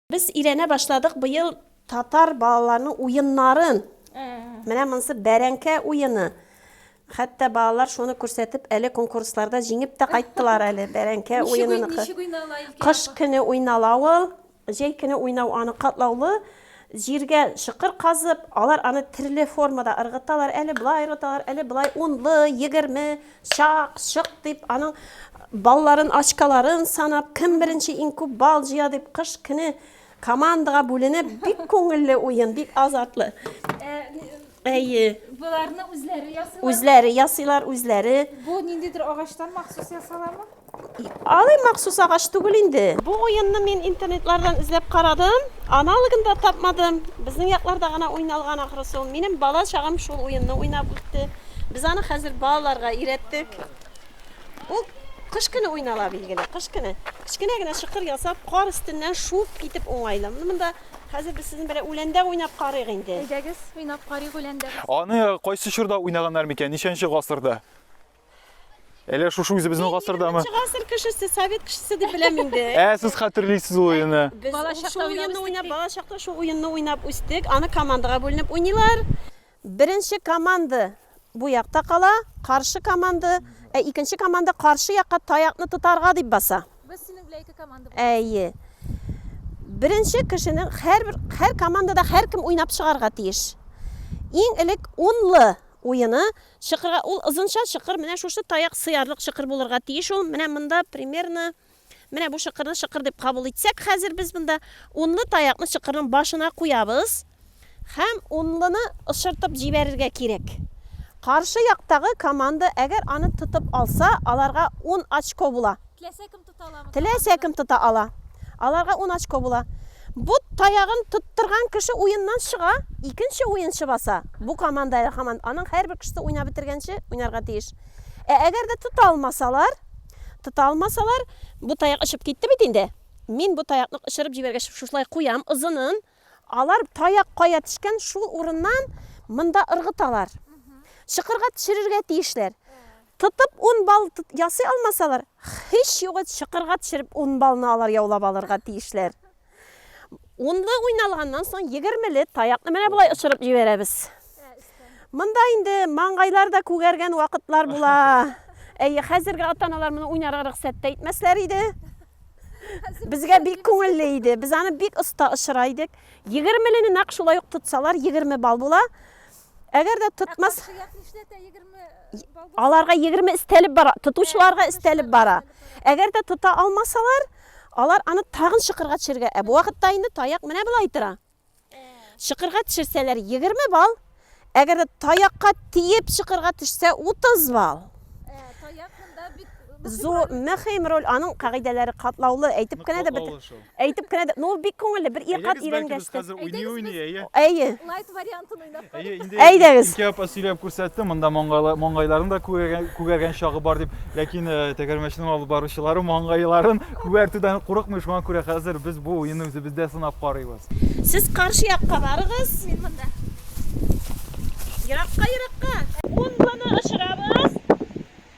Без өйрәнә башладык быел татар балаларының уеннарын. Менә монысы бәрәңкә уены. Хәтта балалар шуны күрсәтеп, әле конкурсларда җиңеп тә кайттылар әле бәрәңкә уенын. Кыш көне уйнала ул. Җәй көне уйнау аны катлаулы җиргә чокыр казып, алар аны төрле формада ыргыталар, әле болай ыргыталар, әле болай, унлы, егерме, чак, чок дип, аның балларын, очколарын санап, кем беренче иң күп балл җыя дип, кыш көне командага бүленеп, бик күңелле уен, бик азартлы. Э, Әйе. Боларны үзләре ясыйлар. Үзләре ясыйлар, үзләре. Бу ниндидер агачтан махсус ясаламы? Алай махсус агач түгел инде. Бу уенны мин интернетлардан эзләп карадым, аналогын да тапмадым. Безнең якларда гына уйналган ахрысы ул. Минем бала чагым шул уенны уйнап үтте. Без аны хәзер балаларга өйрәттек. Ул кыш көне уйнала билгеле, кыш көне. Кечкенә генә чокыр ясап, кар өстеннән шуып китеп уңайлы. Монда Хәзер без сезнең белән үләндә уйнап карыйк инде. Әйдәгез, уйнап карыйк үләндә. Аны кайсы чорда уйнаганнар микән, ничәнче гасырда? Әллә шушы үзебезнең гасырдамы? Ничә гасыр кешесе, совет кешесе дип беләм инде. Ә сез хәтерлисез ул уенны? Без балачакта уйнап, балачакта шул уенны уйнап үстек. Аны командага бүленеп уйныйлар. Беренче команда бу якта кала, каршы команда, ә икенче команда каршы якка таякны тотарга дип баса. Без синең белән ике команда булабыз. Әйе. Беренче кешенең һәрбер һәр командада һәркем уйнап чыгарга тиеш. Иң элек унлы уены чыкырга ул озынча чыкыр, менә шушы таяк сыярлык чыкыр булырга тиеш ул. Менә монда примерно Менә бу чыкырны чыкыр дип кабул итсәк, хәзер без монда унлы таякны чыкырның башына куябыз һәм унлыны очыртып җибәрергә кирәк. Каршы яктагы команда әгәр аны тотып алса, аларга 10 очко була. Теләсә кем тота аламы? Теләсә кем тота ала. Аларга 10 очко була. Бу таягын тоттырган кеше уеннан чыга, икенче уенчы баса. Бу команда һаман аның һәрбер кешесе уйнап бетергәнче уйнарга тиеш. Ә әгәр дә тота алмасалар, Тота алмасалар, бу таяк очып китте бит инде. Мин бу таякны очырып җибәргәч, шушылай куям озынын. Алар таяк кая төшкән, шул урыннан монда ыргыталар. Чокырга төшерергә тиешләр. Тотып ун бал ясый алмасалар, һич югы чокырга төшереп ун балны алар яулап алырга тиешләр. Унлы уйналганнан соң егермеле таякны менә болай очырып җибәрәбез. Монда инде маңгайлар да күгәргән вакытлар була. Әйе, хәзерге ата-аналар моны уйнарга рөхсәт тә итмәсләр иде. Безгә бик күңелле иде. Без аны бик оста очыра идек. Егермелене нәкъ шулай ук тотсалар, егерме балл була. Әгәр дә тотмас... Аларга 20 истәлеп бара, тотучыларга истәлеп бара. Әгәр дә тота алмасалар, алар аны тагын шыкырга төшергә. Ә бу вакытта инде таяк менә болай тора. Шыкырга төшерсәләр 20 балл, әгәр дә таякка тиеп шыкырга төшсә 30 балл. Зу мөһим роль аның кагыйдәләре катлаулы, әйтеп кенә дә бит. Әйтеп кенә дә, ну бик күңелле, бер ир кат өйрәнгәч. Хәзер уйный уйный, әйе. Әйе. Лайт вариантын уйнап. Әйе, инде. Әйдәгез. Ике апа сөйләп күрсәтте, монда маңгайларын да күгәргән чагы бар дип, ләкин э, тәгәрмәчнең алып баручылары маңгайларын күгәртүдән курыкмый, шуңа күрә хәзер без бу уенны үзебездә сынап карыйбыз. Сез каршы якка барыгыз. Мин монда. Еракка, еракка. Бомбаны очырабыз.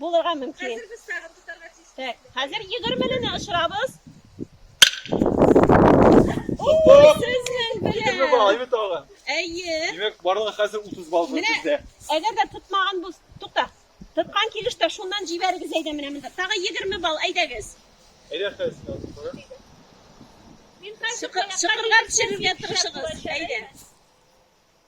Булырга мөмкин. Хәзер без тагын тотарга тиеш. Так, хәзер 20-лене очырабыз. Ой, сезнең белән. Балайны тагын. Әйе. Димәк, барлыгы хәзер 30 балл бездә. Әгәр дә тотмаган бу, тукта. Тоткан килештә шуннан җибәрегез әйдә менә монда. Тагы 20 балл, әйдәгез. Әйдә хәзер. Чыкырга төшерергә тырышыгыз. Әйдә.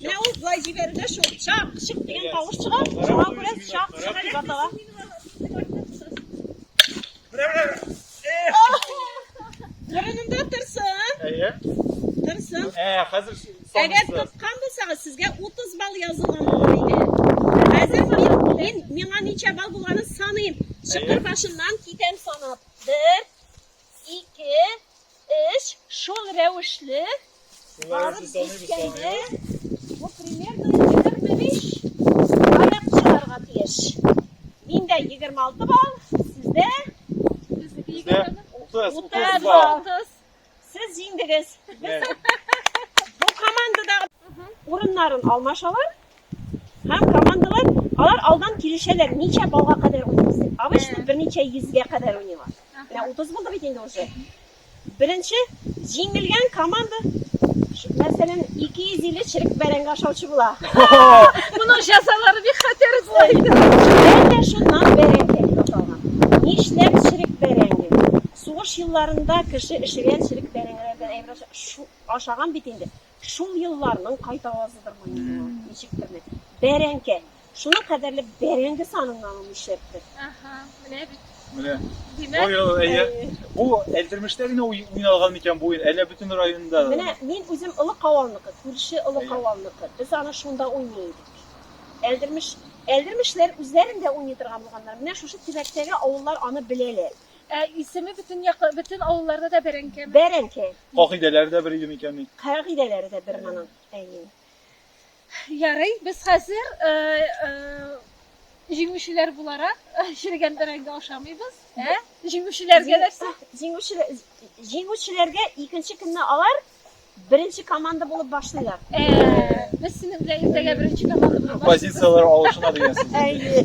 Менә ул болай җибәрелә шул. Чак, чык дигән тавыш чыга. Шуңа күрә чак, чык дип атала. Борынында торсын. Әйе. Торсын. Ә, хәзер Әгәр тоткан булсагыз, сезгә 30 балл язылган булыр иде. Хәзер мин, мин миңа ничә балл булганын саныйм. Чыкыр башыннан китәм санап. 1 2 Эш шул рәвешле барып җиткәндә, бу примерно егерме биш баллдан чыгарга тиеш. Миндә егерме алты балл, сездә? Бездә утыз, утыз балл. Сез җиңдегез. Бу командадагы урыннарын алмашалар. Һәм командалар, алар алдан килешәләр, ничә балга кадәр уйныйбыз дип. Обычно берничә йөзгә кадәр уйныйлар. Менә 30 булды бит инде уже. Беренче җиңелгән команда мәсәлән 250 черек бәрәңге ашаучы була. Моның җәзалары бик хәтәр була инде. Әнә шуннан бәрәңге дип аталган. Нишләп черек бәрәңге? Сугыш елларында кеше эшегән черек бәрәңгеләрдән әйбер ашаган бит инде. Шул елларның кайт авазыдыр бу инде ул, ничектер менә. Бәрәңке. Шуның кадәрле бәрәңге саныннан ул нишләптер. Аха, менә бит. Менә. Димәк, Ой, ой, әйе. Әйе. Бу Әлдермештә генә уй- уйналган микән бу уен? Әллә бөтен районда? Менә мин үзем Олы Кавалныкы, күрше Олы Әйе. Кавалныкы. Без аны шунда уйный идек. Әлдермеш, Әлдермешләр үзләрен дә уйный торган булганнар. Менә шушы тирәктәге авыллар аны беләләр. Ә исеме бөтен якы, бөтен авылларда да бәрәңкеме? Бәрәңке. Кагыйдәләре дә бер иде микән ни? Кагыйдәләре дә бер моның. Әйе. Ярый, без хәзер э, э, җиңүчеләр буларак э, черегән бәрәңге ашамыйбыз. Ә? Җиңүчеләргә нәрсә? Җиңүчеләр җиңүчеләргә икенче көнне алар беренче команда булып башлыйлар. Ә, без синең белән иртәгә беренче команда булып баш- Позицияләр алышына дигән сүз. Әйе.